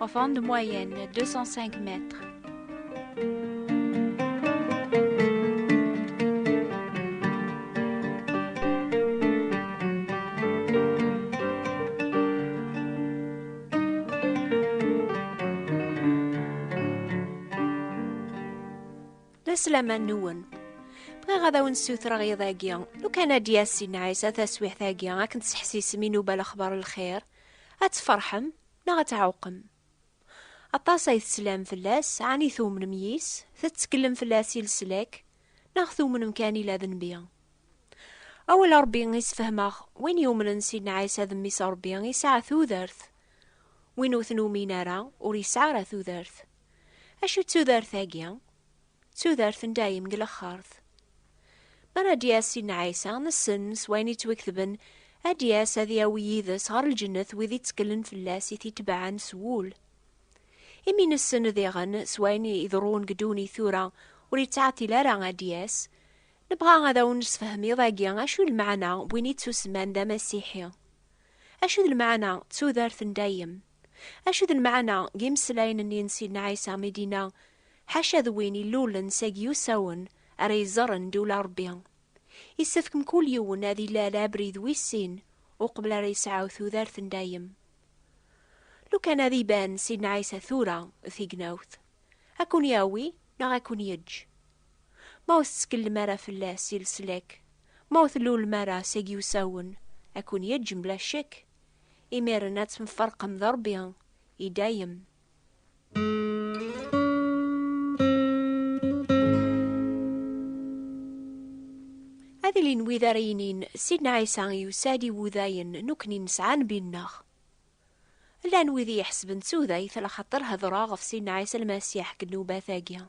Enfant de moyenne, 205 mètres. Aslama nwen. Bɣiɣ ad awen-ssutreɣ iḍ-agi, lukan ad d-yas inɛis a taswiḥt-agi akken tesḥesisem inuba lexbar lxir, ad tferḥem, Neɣ ad tɛewqem. Aṭas ay teslam fell-as, ɛni tumnem yis, tettekllem fell-as i leslak, neɣ tumnem kan ila d Nnbi? Awal Rebbi i sefhmeɣ, win yumnen Sidna Ɛisa d Mmi-s Rebbi yesɛa tudert, win ur t-numin ara ur yesɛi ara tudert. Acu d tudert-agi? d tudert n dayem deg lexxert. Mi ara d-yas Sidna Ɛisa, nessen s wayen yettwiketben, ad d-yas ad yawi yid-s ɣer lǧennet wid itteklen fell-as it-itebɛen s wul. Imi nessen diɣen s wayen iḍerrun deg ddunit tura ur yettɛeṭṭil ara ad d-yas, nebɣa ad awen-nessefhem iḍ-agi acu d lmeɛna n win ittusemman d amasiḥi. Acu d lmeɛna d tudert n dayem? Acu d lmeɛna n yimeslayen-nni n Sidna Ɛisa mi d-yenna, Ḥaca d win ilulen seg yiwsawen ara iẓerren ddula n Ṛebbi? Yessefk mkul yiwen ad ilal abrid wis sin uqbel ara yesɛu tudert n dayem. Lukan ad iban Sidna Ɛisa tura d tignawt, ad ken-yawi neɣ ad ken-yeǧǧ. Ma ur tettkellem ara fell-as i leslak, ma ur tlulem ara seg yiwsawen, ad ken-yeǧǧ mebla ccekk. Imiren ad temfarqem d Ṛebbi i dayem. Ad ilin wid ara yinin, Sidna Ɛisa yusa-d i wudayen nekkni nesɛa Nnbi-nneɣ. Llan wid i iḥesben d tudayt laxaṭer hedṛeɣ ɣef Sidna Ɛisa Lmasiḥ deg nnubat-agi.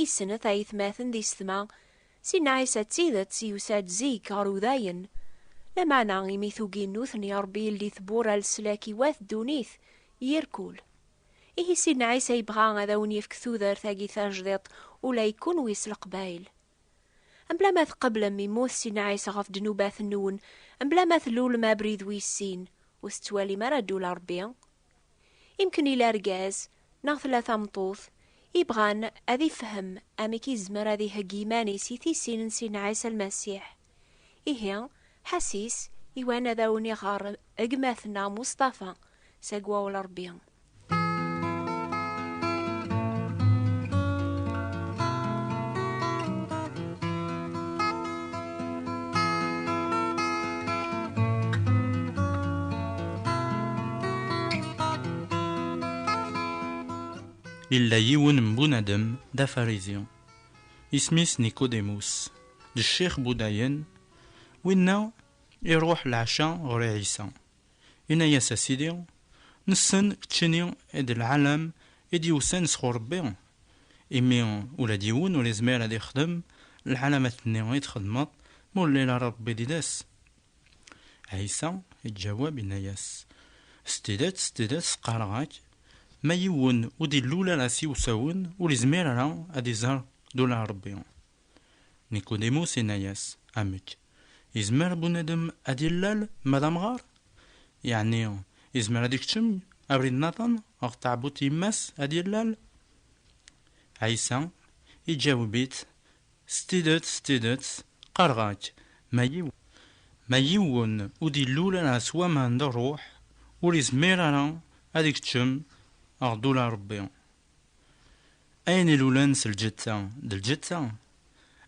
Isnet ayetmaten d isetma, si Nɛisa d tidet yusa-d zik ɣer udayen. Lameɛna imi tugi n nutni Ṛebbi yeldi tewwura leslak i wat ddunit yir kul. Ihi si Nɛisa yebɣa ad awen yefk tudert agi tajdiṭ ula i kunwi s leqbayel. Mebla ma tqeblem immut si Nɛisa ɣef ddnubat nwen, mebla ma tlulem abrid wis sin, ur tettwalim ara ddula Ṛebbi? Imken yella argaz neɣ tella tameṭṭut yebɣan ad ifhem amek yezmer ad iheggi iman-is i tissin n Sidna Ɛisa Lmasiḥ. Ihi, ḥasis iwan ad awen-iɣer gma-tneɣ Mustafa s agwaw n Rebbi. Yella yiwen n bunadem d afarizi, isem-is Nikudimus, d ccix budayen, winna iruḥ leɛca ɣur Ɛisa. Yenna-yas, A Sidi, nessen ččini i d lɛalam i d-yewsan sɣur Rebbi, imi ula d yiwen ur yezmir ad yexdem lɛalamat-nni i txedmeḍ ma ur yelli ara Rebbi di-des. Ɛisa iǧaweb, yenna-yas, S tidet, s tidet, qqareɣ-ak, ma yiwen ur d-ilul ara s yiwsawen, ur yezmir ara ad iẓer d ula Rebbi. Nikudimus inna-yas, Amek, izmer bunadem ad illal ma d amɣar? Yeɛni izmer ad ikeččem abrid naḍen ɣef tɛebbuḍt yemma-s ad illal? Ɛisa iǧaweb-itt, S tidet, s tidet, qqareɣ-ak, ma yiwen ur d-illul ara s waman d ṛṛuḥ, ur izmir ara ad ikeččem ɣer ddula n Ṛebbi. Ayen ilulen s lǧetta, d lǧetta,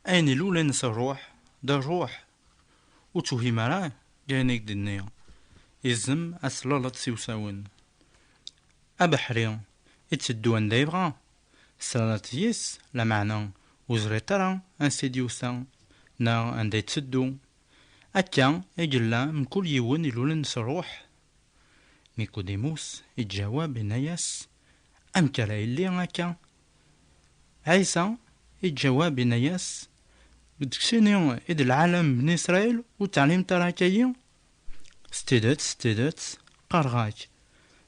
ayen ilulen s rruḥ, d rruḥ. Ur tewhim ara deg ayen i k-d-nni, izem ad tlallaḍ s iwsawen. Abeḥri iteddu anda yebɣa, teslaleḍ yis, lameɛna ur teẓriḍ ara ansi i d-yusa neɣ anda iteddu. Akka i yella mkul yiwen ilulen s rruḥ, Nikudimus iǧawab inna-yas, Amek ara yelli akka? Ɛisa iǧawab inna-yas, Deg-sini i d lɛalam Bni Israil ur teɛlimt ara akka-yi? S tidet, s tidet, qqareɣ-ak,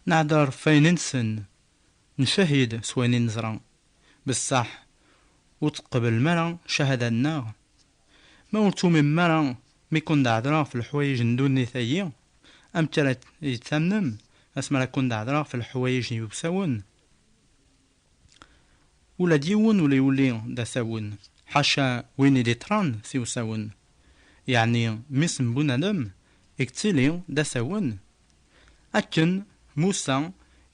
Nɛedder f wayen i nsen, ncahid s wayen i neẓra, bessaḥ ur teqbeblem ara cahada-nneɣ, Ma ur tumimmem ara mi kkun-d-ɛedreɣ ɣef leḥwayeǧ n ddunit-agi, amek ara yi-d-tamnem asmi ara kkun-d-ɛedreɣ ɣef leḥwayeǧ n yiwsawen? Ula d yiwen ur yuli d asawen, ḥaca win i d-iṭṭran s iwsawen. Yeɛni mmi-s n Bunadem i yettili d asawen? Akken Musa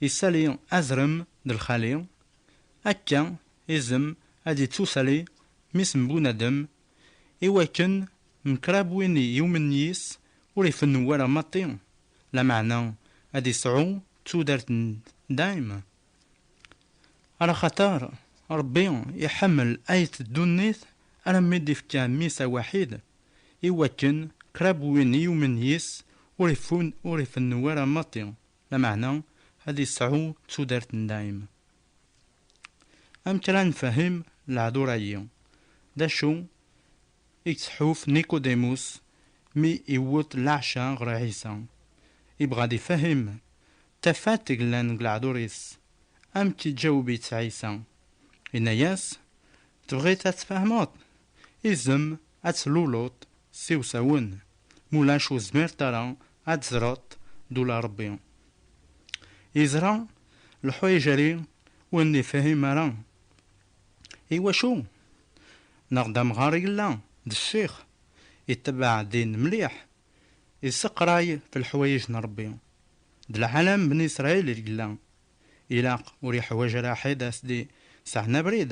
isali azrem d lxali, akka izem ad yettusali Mmi-s n bunadem, i wakken mkrab win yumen yis ur ifennu wara maṭi, lameɛna ad isɛu tudert n dayem. Araxater Rebbi iḥemmel ayt ddunit alammi d-ifka mmi-s awaḥid, i wakken krab win yumen yis ur ifennu wara maṭi. Lameɛna ad yesɛu tudert n dayem. Amek ara nefhem lehdur-agi? D acu i yetḥuf Nikudimus mi iwwet leɛca ɣer Ɛisa? Ibɣa ad ifehhem tafat yellan deg lehdur-is. Amek iǧaweb-itt Ɛisa? Yenna-yas, Tebɣiḍ ad tfehmeḍ? Izem ad tluleḍ s iwsawen. Mulac ur zmiret ara ad tzreḍ d ula Rebbi yeẓra leḥwayeǧ-agi ur nifhim ara iwacu neɣ d amɣar i yella d ccix itebbeɛ ddin mliḥ yesseqray f leḥwayeǧ n Rebbi d lɛalam bni Israil i yella ilaq ur yeḥwaǧ ara ḥed a s-d-yesɛen abrid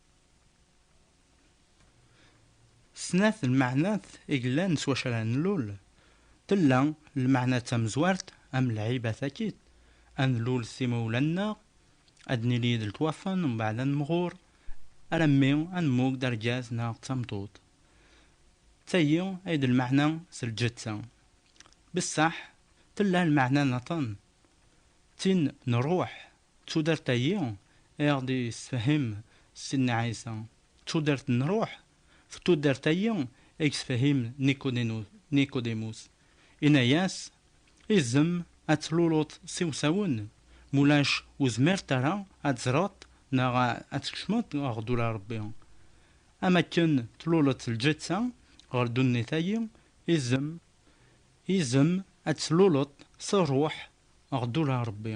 Snat n lmeɛnat i yellan s wacu ara nlul, tella lmeɛna tamezwart am lɛiba takit, ad nlul s imawlan-nneɣ, ad nili d letwafen mbeɛd ad nemɣur, alammi ad nemmug d argaz neɣ d tameṭṭut. D tagi ay d lmeɛna s lǧetta. Bessaḥ tella lmeɛna n aṭṭan, d tin n ṛṛuḥ. D tudert-agi i aɣ-d-yessefhem Sidna Ɛisa, d tudert n ṛṛuḥ, d tudert-agi i yessefhem Nikudimus. Yenna-yas, Izem ad tluluḍ s iwsawen, ma ulac ur zmiret ara ad teẓreḍ neɣ ad tkecmeḍ ɣer ddura n Ṛebbi. Am akken tluleḍ lǧetta ɣer ddunit-agi, izem, izem ad tluleḍ s ṛṛuḥ ɣer ddura n Ṛebbi.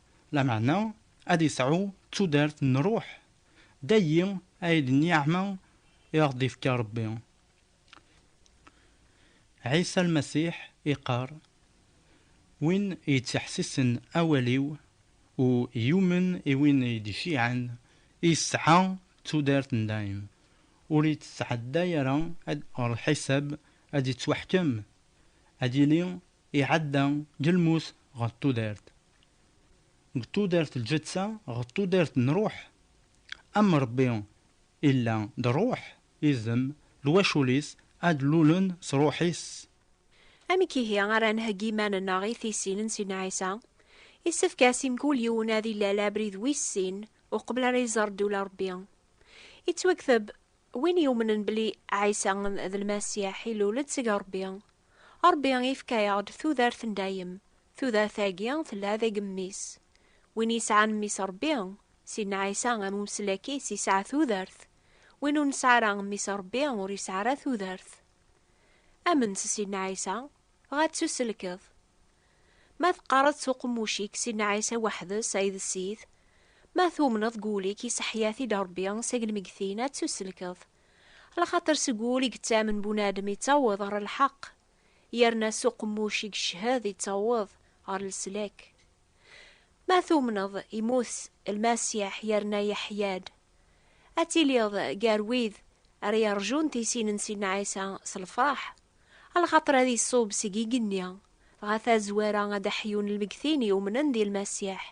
Lameɛna ad isɛu tudert n ṛṛuḥ, d ayi ay d nniɛma i aɣ-d-ifka Ṛebbi. Ɛisa Lmasiḥ iqqar, Win yettḥessisen awal-iw u yumen i win i d-iciɛen, yesɛa tudert n dayem, ur yettɛedday ara ɣer lḥisab ad yettwaḥkem, ad yili iɛedda deg lmut ɣer tudert. deg tudert lǧetta ɣer tudert n ruḥ, am Rebbi illa d ruḥ, idem, lwacul-is ad lulen s ruḥ-is. Amek ihi ara nheggi iman-nneɣ i tissin n Sidna Ɛisa? Issefk-as i mkul yiwen ad ilal abrid wis sin uqbel ara iẓer ddula n Rebbi. Ittwakteb, Win yumnen belli Ɛisa d Lmasiḥ ilul-d seg Rebbi, Rebbi ifka-yaɣ-d tudert n dayem, Tudert-agi tella d agemmis. Win yesɛan mmi-s Ṛebbi, Sidna Ɛisa am umeslak-is yesɛa tudert, win ur nesɛi ara mmi-s Ṛebbi ur yesɛi ara tudert. Amen s Sidna Ɛisa, ɣa ttuselkeḍ. Ma teqqareḍ s uqemmuc-ik Sidna Ɛisa weḥd-s ay d Ssid, ma tumneḍ deg wul-ik yesseḥya-t-id Ṛebbi seg lmeggtin ad ttuselkeḍ. Lxaṭer seg wul i yettamen bunadem yettaweḍ ɣer lḥeqq. yerna s uqemmuc i yeched yettaweḍ ɣer leslak. Ma tumneḍ yemmut Lmasiḥ yerna yeḥya-d, ad tiliḍ gar wid ara yeṛjun tisin n Sidna Ɛisa s lfeṛḥ, lxaṭer ad iṣub seg igenni, dɣa tazwara ad d-ḥyun lmegtin yumnen di Lmasiḥ,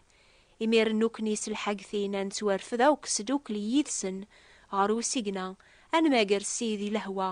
imiren nukni s lḥagtin ad nettwarfed akk sdukli yid-sen ɣer usigna, ad nmager Ssid i lehwa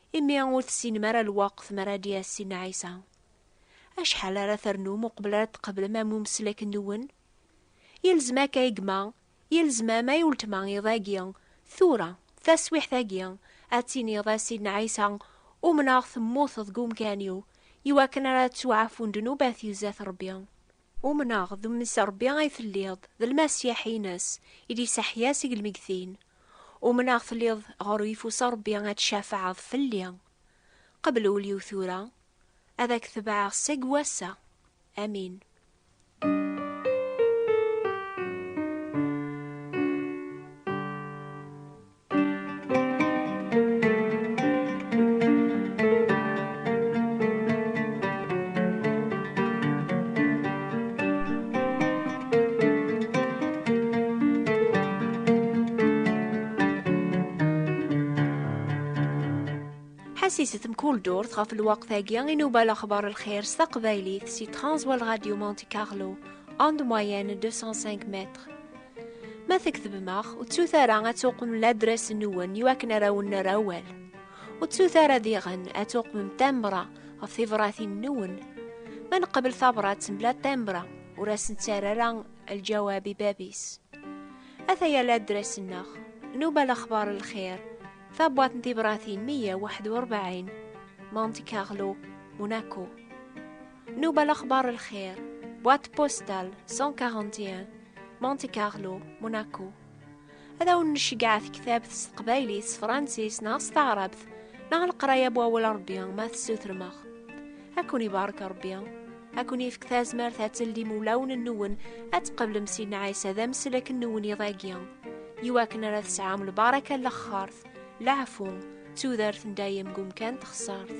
Imi ur tessinem ara lweqt mi ara d-yas Sidna Ɛisa. Acḥal ara ternum uqbel ara tqeblem am umeslek-nwen? Yelzem akka ay gma, yelzem am ay uletma iḍ-agi, tura, taswiḥt-agi, ad tiniḍ a Sidna Ɛisa, umneɣ temmuteḍ deg umkan-iw, iwakken ara ttwaɛfun ddnubat i zdat Rebbi. Umneɣ d Mmi s Ṛebbi ay telliḍ, d Lmasiḥ ines, i d-yesseḥya seg lmegtin. Umneɣ telliḍ ɣer uyeffus Ṛebbi ad tcafɛeḍ fell-i. Qbel ul-iw tura, ad ak-tebɛeɣ seg wass-a. Amin. ḥasiset mkul durt ɣef lwaqt-agi i nuba lexbar lxir s taqbaylit si Transworld Radio Monte Carlo, onde moyenne 205 mètres. Ma tektbem-aɣ, ur ttut ara ad tuqmem ladras-nwen i wakken ara wen-nerr awal. Ur ttut ara diɣen ad tuqmem tambra ɣef tibratin-nwen. Ma neqbel tabrat mebla tambra, ur asen-ttarr ara lǧawab i bab-is. Ataya ladras-nneɣ, Nuba Lexbar Lxir, tabwat n tibratin 141, Monte Carlo, Monaco. Nuba Lexbar Lxir, boîte postale 141, Monte Carlo, Monaco. Ad awen nceggeɛ tektabt s teqbaylit, s fransis neɣ s taɛrabt, neɣ leqraya bu awal Rebbi ma tessutrem-aɣ. Ad ken-ibarek Rebbi, ad ken-ifk tazmert ad teldim ulawen-nwen ad tqeblem Sidna Ɛisa d ameslek-nwen iḍ-agi, i wakken ara tesɛum lbaraka n lexxart, leɛfu, d tudert n dayem deg umkan n texsart.